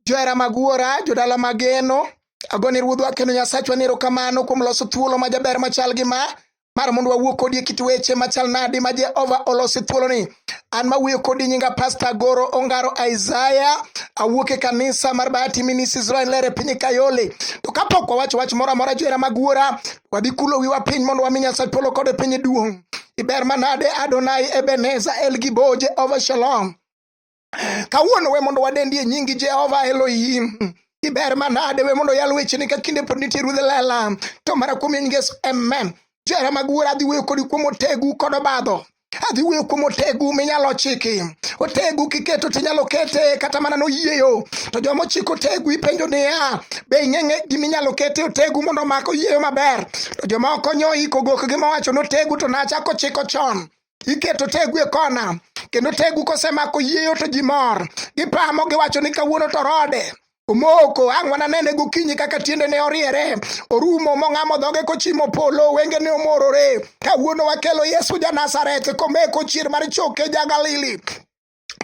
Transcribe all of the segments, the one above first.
Johera mag wuora, jodala mageno, agoni ruodhwa kendo Nyasachwa ni erokamano kuom loso thuolo ma jaber machal gi ma mar mondo wawuo kodi e kit weche machal nadi ma Jehova oloso thuoloni. An mawuoyo kodi nyinga Pasta Goro Ongaro Isaiah, awuok e kanisa mar Bahati Minis Israel Lere piny Kayole. To kapok wawacho wach moro amora johera mag wuora, wadhi kulo wiwa piny mondo wami Nyasaye polo kod e piny duong'. Iber manade Adonai Ebeneza El Gibo Jehova Shalom. Kawuono we mondo wadendi e nyingi Jehova Elohim. Iber manade we mondo yal wecheni ka kinde pod nitie ruodh lela. To mara kuom nyingi Yesu. Amen. Jera mag wuora adhi wuoyo kodi kuom otegu kod obadho. adhi wuoyo kuom otegu minyalo chiki otegu kiketo tinyalo kete kata mana noyieyo to joma ochiko otegu ipenjo niya be ing'eng'e giminyalo kete otegu mondo omak oyieyo maber to joma okonyo iko gokgi mowacho notegu to nachako chiko chon iketo tegu e kona kendo tegu kosemako yieyo to ji mor gipamo giwacho ni kawuono to rode omoko ang' wananene gokinyi kaka tiendene oriere orumo mong'amo dhoge kochimo polo wengene omorore kawuono wakelo yesu ja nazareth komeko chier mar choke ja galili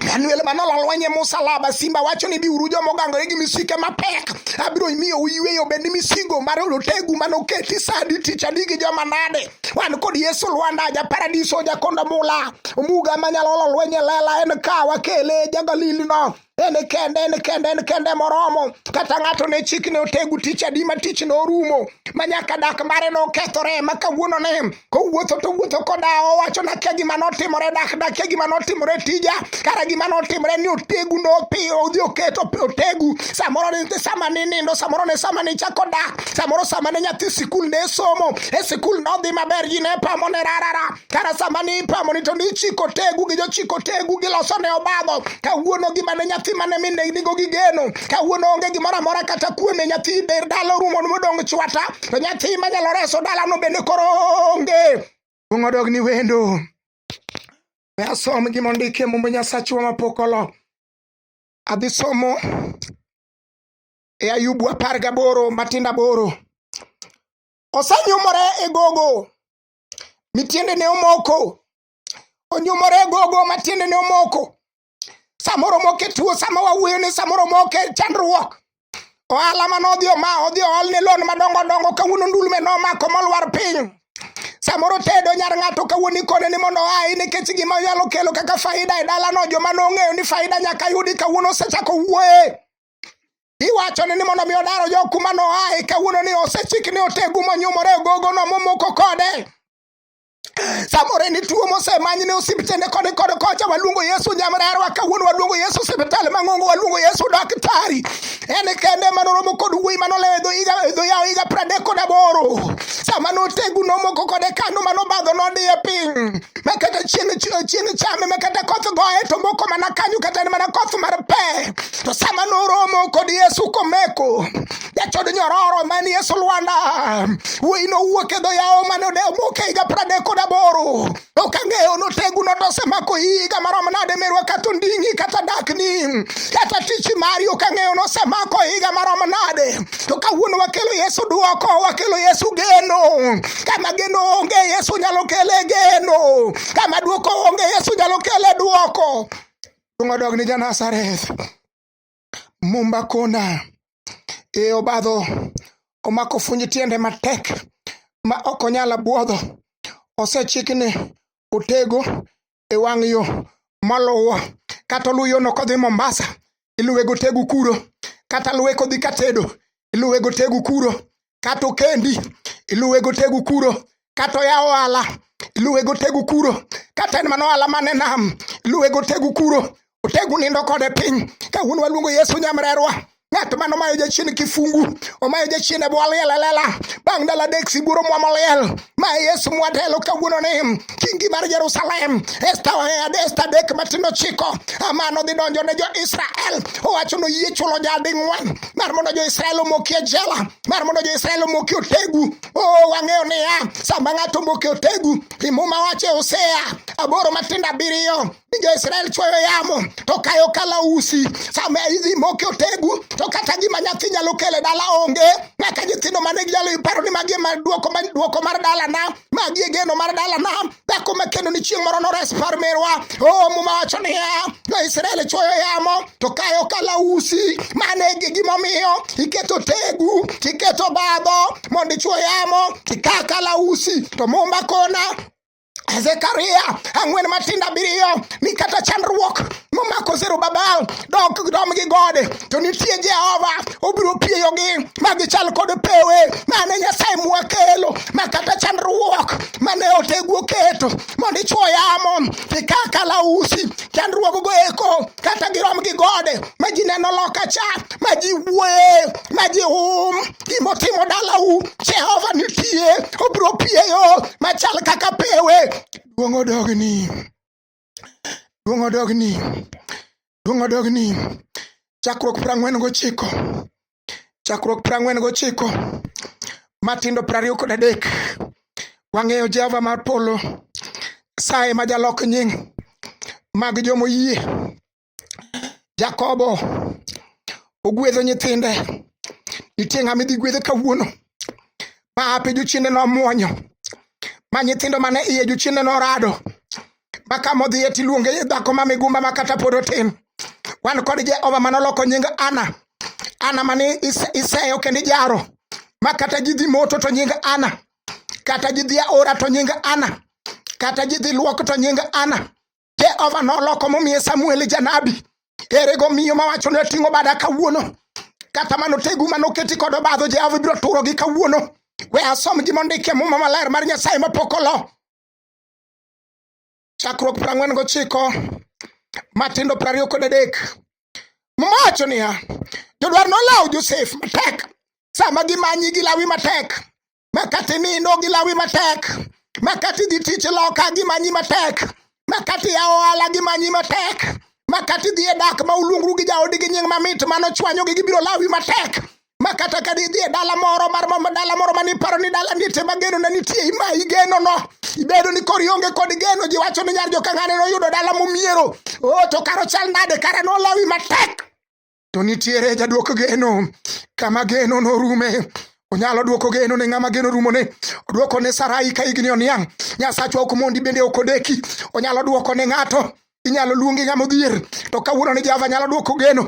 Manuel Manol olwanye musalaba simba wacho ni biuru joma ogangore gi misike mapek abiro miyo uyweyo bende misigo mar olotegu mane oketi sadi tich adi gi joma nade wan kod Yesu Lwanda ja paradiso ja kondo mula omuga manyalo olo lwenye lela en ka wakele ja Galili no en kende en kende en kende moromo kata ng'ato ne chik ne otegu tich adi ma tich ne orumo ma nyaka dak mare ne okethore ma kawuono ne kowuotho to wuotho koda owacho na kia gima notimore dak na kia gima notimore tija kara gima notimore ni otegu no pi odhi oketo otegu samoro ne sama ne nindo samoro ne sama ne chako dak samoro sama ne nyathi sikul ne somo e sikul nodhi maber ji ne pamo ne rarara kara sama ne ipamo ni to ni chiko tegu gi jochiko tegu giloso ne obadho kawuono gima ne nyathi mane minegnigo gi geno kawuono onge gimoro amora kata kuome nyathi ber dala orumo modong' chwata to nyathi manyalo reso dalano bende koro onge kuong' odog ni wendo we asom gima ondike mumbe nyasachwa mapok olo adhi somo e ayubu apar gaboro matindo aboro osenyumore e gogo mitiende ne omoko onyumore e gogo matiende ne omoko samoro moko e tuo sama wawuoyo ni samoro moko e chandruok ohala ma nodhi oma odhi oolne lon madongo dongo kawuono ndulme nomako molwar piny samoro tedo nyar ng'ato kawuono ikone ni mondo oayi nikech gima nyalo kelo kaka faida e dalano joma nong'eyo ni faida nyaka yudi kawuono osechako wuoye iwachone ni mondo mi odaro jo kuma noaye kawuono ni osechik ni otegu monyumore ogogono momoko kode samore ni tuo mosemany ne osiptende koni kod kocha waluongo yesu nyamrerwa kawuono waluongo yesu siptal mang'ongo waluongo yesu daktari en kende manoromo kod wuoyi manolewo edho yawo higa pradek kod aboro sama notegu nomoko kode kano manobadho nodiye piny makata chieng' chame makata koth goye to moko mana kanyo kata en mana koth mar pe to sama noromo kod yesu komeko jachod nyororo mani e sulwanda wuoyi nowuok e dho yawo mane omoke higa pradek kod aboro ok ang'eyo notegu notosemako higa marom nade merwa kata onding'i kata dakni kata tich mari ok ang'eyo nosemako higa marom nade to kawuono wakelo yesu duoko wakelo yesu geno kama geno onge yesu nyalo kele geno kama duoko onge yesu nyalo kele duoko Tungo dog ni Janasareth. Mumba kona e obadho omako funj tiende matek ma ok onyal abwodho. Osechikne otego e wang' yo moluwo kata oluw yono kodhi Mombasa iluwe gotegu kuro kata luwe kodhi Katedo iluwe gotegu kuro kata okendi iluwe gotegu kuro kata oya ohala iluwe gotegu kuro kata en mana ohala mane nam iluwe gotegu kuro otegu nindo kode piny ka wuon waluongo yesu nyamrerwa ng'at mano mayo jachien kifungu omayo jachien e bwo liel elela bang' dala dek siburo mwamo liel ma Yesu mwatelo kawuono ni kingi mar Jerusalem esta esta dek matindo chiko amano dhi donjo ne jo-Israel owacho no yie chulo jading'wen mar mondo jo-Israel omoki e jela mar mondo jo-Israel omoki otegu o oh, wang'eyo niya sama ng'ato omoki otegu imuma wache Hosea aboro matindo abiriyo jo Israel chwoyo yamo to kayo kala usi sama idhi moke otegu to kata gima nyathi nyalo kele dala onge nyaka nyithindo mane ginyalo iparo ni magi ma duoko ma duoko mar dala na magi e geno mar dala na dhako ma kendo ni chieng' moro nores par merwa o oh, muma wacho niya jo Israel chwoyo yamo to kayo kala usi mane gi gimomiyo iketo tegu iketo badho mondo ichwo yamo kika kala usi to mumba kona Zekaria ang'wen matindo abiriyo ni kata chandruok momako Zerubabel dok dom gi gode to nitie Jehova obiro pieyogi ma gichal kod pewe mane Nyasaye mwakelo ma kata chandruok mane otegu oketo mondo ichwo yamo tikaka lausi chandruoggo eko kata girom gi gode ma ji neno loka cha ma ji wuoye ma ji hum gimotimo dalau jehova nitie obiro pieyo machal kaka pewe duong' odogni duong' odogni duong' odogni chakruok prang'wen gochiko chakruok piero ang'wen gochiko matindo piero ariyo kod adek wang'eyo jehova mar polo saye ma jalok nying mag jomoyie jakobo ogwedho nyithinde nitie ng'ama idhi gwedhe kawuono ma ape jochiende nomwonyo ma nyithindo mane iye jochiende norado ma ka modhiye tiluonge dhako ma migumba ma kata pod otin wan kod jehova ma noloko nying ana ana mani iseyo kendo ijaro ma kata ji dhi moto to nying ana kata ji dhi aora to nying ana kata ji dhi luok to nying ana jehova noloko momiye samuel janabi ere go miyo mawacho ni oting'o bada kawuono kata mano tegu mano keti kod obadho jehova ibiro turo gi kawuono we asom gi mondikie muma maler mar nyasaye mapok olo chakruok piero ang'wen gochiko matindo piero ariyo kod adek mowacho niya jodwar nolawo josef matek sama gimanyi gilawi matek makati nindo gilawi matek makati dhi tich loka gimanyi matek makati ya ohala gimanyi matek makati dhi e dak ma uluongru gi jaodi gi nying mamit mano chwanyogi gibiro lawi matek ma kata ka didhi e dala moro mar dala moro mane iparo ni dala niete ma geno ne nitie imayi genono ibedo ni kori onge kod geno ji wacho ni nyar jokang'ane noyudo dala momiero o oh, to karo chal nade kara nolawi matek to nitiere jaduok geno kama geno norume onyalo dwoko geno ne ng'ama geno rumone odwoko ne sarai ka igni oniang' nyasachwa ok mondi bende ok odeki onyalo dwoko ne ng'ato inyalo luongi ng'ama odhier to kawuono ni jehova nyalo dwoko geno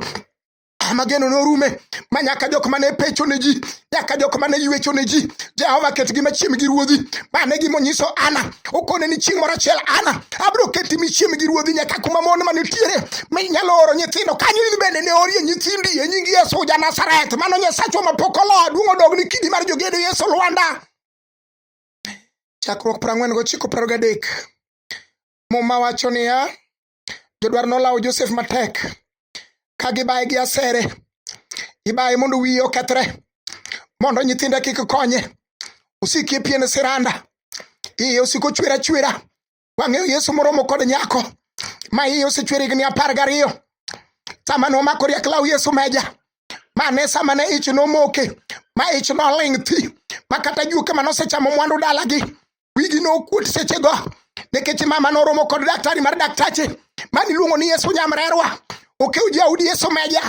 Armagedon norume ma nyaka jok mane pecho ne ji nyaka jok mane ywecho ne ji Jehova ketgi machiem gi ruodhi mane gima onyiso Ana okone ni chieng' moro achiel Ana abiro keti michiem gi ruodhi nyaka kuma mon mane tiere minyalo oro nyithindo kanyo in bende ne orie nyithindi e nying Yesu ja Nazareth mano Nyasachwa mapok oloa duong' odog ni kidi mar jogedo Yesu Lwanda chakruok 49 30 muma wacho niya jodwar nolawo Josef matek ka gibaye gi asere ibaye mondo wiye okethre mondo nyithinde kik konye osiki e pien siranda iye osiko chwer achwera wang'eyo yesu moromo kod nyako ma iye osechwer higni apar gariyo sama nomako riak law yesu meja mane sama ne ich nomoke ma ich noling thi ma kata juoke ma nosechamo mwandu dalagi wigi nokuot sechego nikech mama noromo kod daktari mar daktache mani luongo ni yesu nyamrerwa okew jaudi yesu meja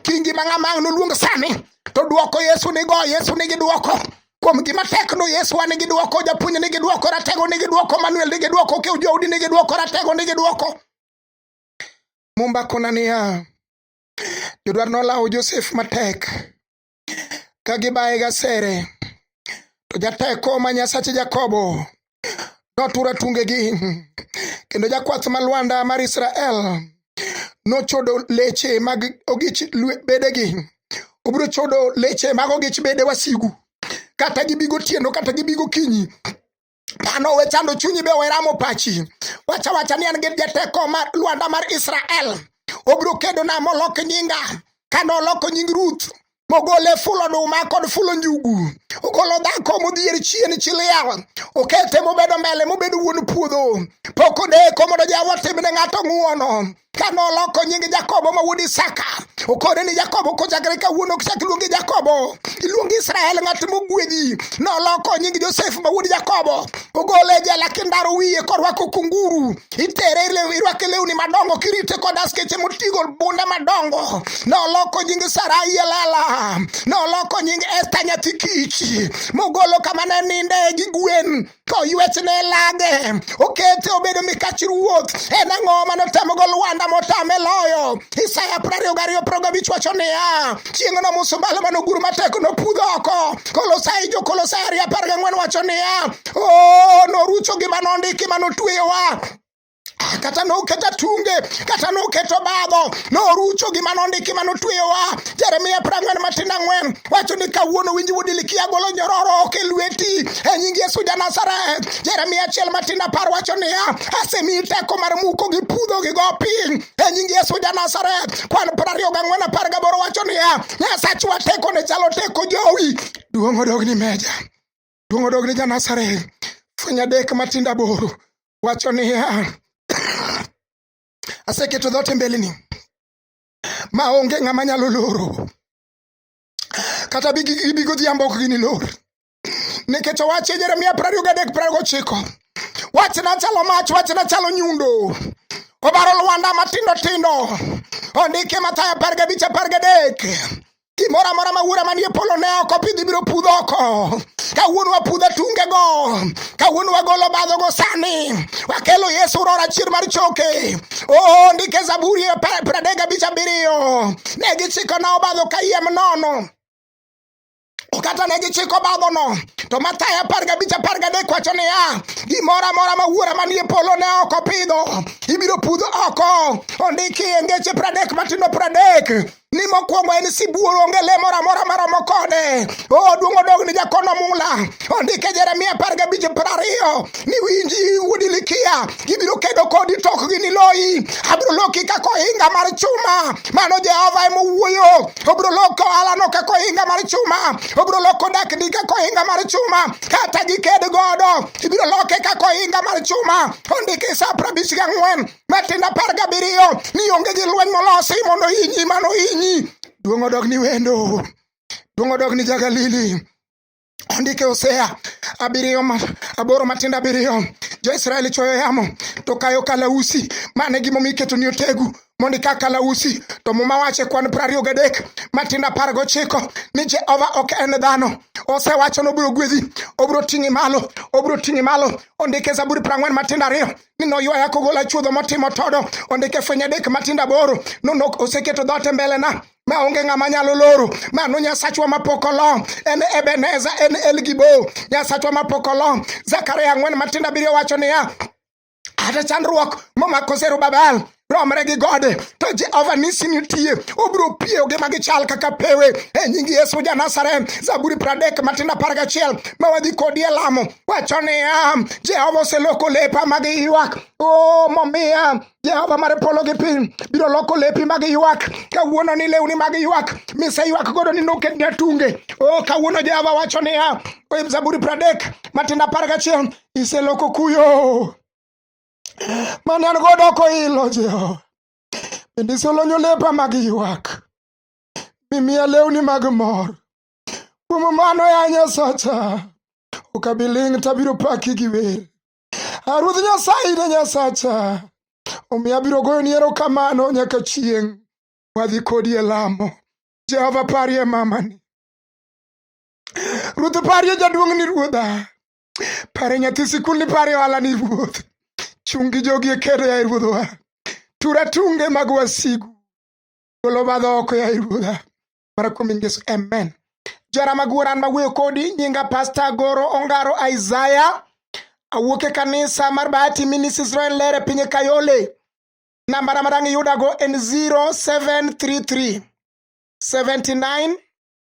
kingi ma ng'ama ang' noluong sani to dwoko yesu nigo yesu nigi dwoko kuom gima tekno yesu wa nigi dwoko japuonj nigi dwoko ratego nigi dwoko manuel nigi dwoko okew jaudi nigi dwoko ratego nigi dwoko mumba kona niya jodwar nolawo josef matek ka gibaye gasere to jateko ma nyasache jakobo notura tungegi kendo jakwath ma lwanda mar israel nochodo leche mag ogich bedegi obiro chodo leche mag ogich bede wasigu kata gibigo tieno kata gibigo kinyi Dhano we chando chunyi be weramo pachi. Wacha wacha ni an gi jateko mar Lwanda mar Israel. Obiro kedo na molok nyinga. Kane oloko nying Ruth mogole fulo oduma kod fulo njugu ogolo dhako modhier chien chiliel okete mobedo mbele mobedo wuon puodho pok odeko mondo jawa timne ng'ato ng'uono ka noloko nying Jakobo ma wuod Isaka okore ni Jakobo kochakre kawuono okchak iluongi Jakobo iluongi Israel ng'at mogwedhi noloko nying Josef ma wuod Jakobo ogole e jela kindaro wiye korwako kunguru itere irwake lewni madongo kirite kod askeche motigo bunde madongo noloko nying Sarai elala noloko nying Esta nyathi kich mogolo kama ne ninde gi gwen koywech ne lage okete obedo mikach ruoth en ang'o mane otemogo lwanda motame loyo isaya prariyo gariyo progabich wacho niya chieng'no musumbalo mane ogur matek nopudh oko kolosai jokolosai ariyo apar gang'wen wacho niya o oh, norucho gima nondiki mane otweyowa kata noketo atunge kata noketo badho norucho gima nondiki ma notweyowa jeremia prang'wen matin ang'wen wacho ni kawuono winji wuod ilikia golo nyororo ok e lweti e nying yesu ja nazareth jeremia achiel matin apar wacho niya asemiyi teko mar muko gi pudho gi go piny e nying yesu ja nazareth kwan piero ariyo gang'wen apar gaboro wacho niya nyasachwa teko ne chalo teko jowi duong' odogni meja Luong odog ni Janazareth. Fweny adek matindo aboro wacho niya, aseketo dhoot e mbeleni ma onge ng'ama nyalo loro kata gibi godhiambo ok ginilor nikech owache Jeremia prariyo gadek prariyo gochiko wachna chalo mach wachna chalo nyundo obaro lwanda matindo tindo ondike Mathayo apar gabich apar gadek Gimoro amora ma wuora manie polo ne ok opidhi biro pudho oko. Kawuono wapudha tungego, kawuono wagolo badhogo sani, wakelo Yesu rora chier mar choke. Oo, ndike Zaburi e pradega bicha biriyo, ne gichiko na obadho kayiem nono. kata ne gichiko bagono to mathayo apar gabich apar gadek wacho niya gimoro amora ma wuora manie polo ne ok opidho ibiro pudh oko ondiki e ngeche pradek matindo pradek ni mokwongo en sibuor onge le moro amora maromo kode o oh, duong' odog ni jakono mula ondike jeremia apar gabich piero ariyo ni winji wuodi likia gibiro kedo kodi tok gi ni loyi abiro loki kaka ohinga mar chuma mano jehova ema owuoyo obiro loko alano kaka ohinga mar chuma obiro loko dakni kaka ohinga mar chuma kata giked godo ibiro loke kaka ohinga mar chuma ondike sa prabich gang'wen Matendo apar gabiriyo ni onge gi lweny molosi mondo inyi mano inyi. Duong' odog ni wendo. Duong' odog ni jagalili. Ondike Hosea abiriyo aboro matindo abiriyo jo-Israel chwoyo yamo to kayo kalausi mane gimomiyo iketo ni otegu mondo ika kalausi to muma wache kwan prariyo gadek matindo apar gochiko ni Jehova ok en dhano osewacho ni obiro gwedhi obiro ting'i malo obiro ting'i malo ondike Zaburi prang'wen matindo ariyo ni noywaya kogola chuodho motimo todo ondike fwenye adek matindo aboro nonok oseketo dhote mbelena ma onge ng'ama nyalo loro mano nyasachwa mapok olo en ebeneza en elgibo nyasachwa mapok olo zakaria ang'wen matindo abiriyo wacho niya ata chandruok momako zerubabel romre gi gode to jehova nisi nitie obiro piyogi ma gichal kaka pewe e nying yesu ja nazareth zaburi pradek matindo apar gachiel ma wadhi kodi e lamo wacho niya jehova oseloko lepa mag ywak o oh, momiya jehova mar polo gi piny biro loko lepi mag ywak kawuono ni lewni mag ywak mise ywak godo ni noketni atunge o oh, kawuono jehova wacho niya e zaburi pradek matindo apar gachiel iseloko kuyo mane an godo koilo Jehova. Bende iselonyo lepa mag ywak, mimiya lewni mag mor. Kuom mano ya Nyasacha, ok abi ling' tabiro paki gi wer. A Ruoth Nyasaye ne Nyasacha, omiyo abiro goyoni erokamano nyaka chieng' wadhi kodi e lamo. Jehova parie mamani. Ruoth parie jaduong'ni ruodha. Pare nyathi sikul ni pare ohala ni ruoth. Chungi jogi e kedo ya ruoth wa. Tura tunge mag wasigu. Golo badho oko ya ruodha. Mara kuom Yesu. Amen. Jara maguoran mawuoyo kodi nyinga Pastor Goro Ongaro Isaiah. Awuok e kanisa mar Bahati Minis Israel Lere piny e Kayole. Namba na madang' iyudago en 0733 79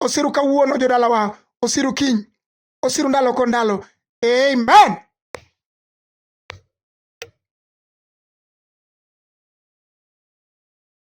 osiru kawuono jodalawa osiru kiny osiru ndalo ko ndalo amen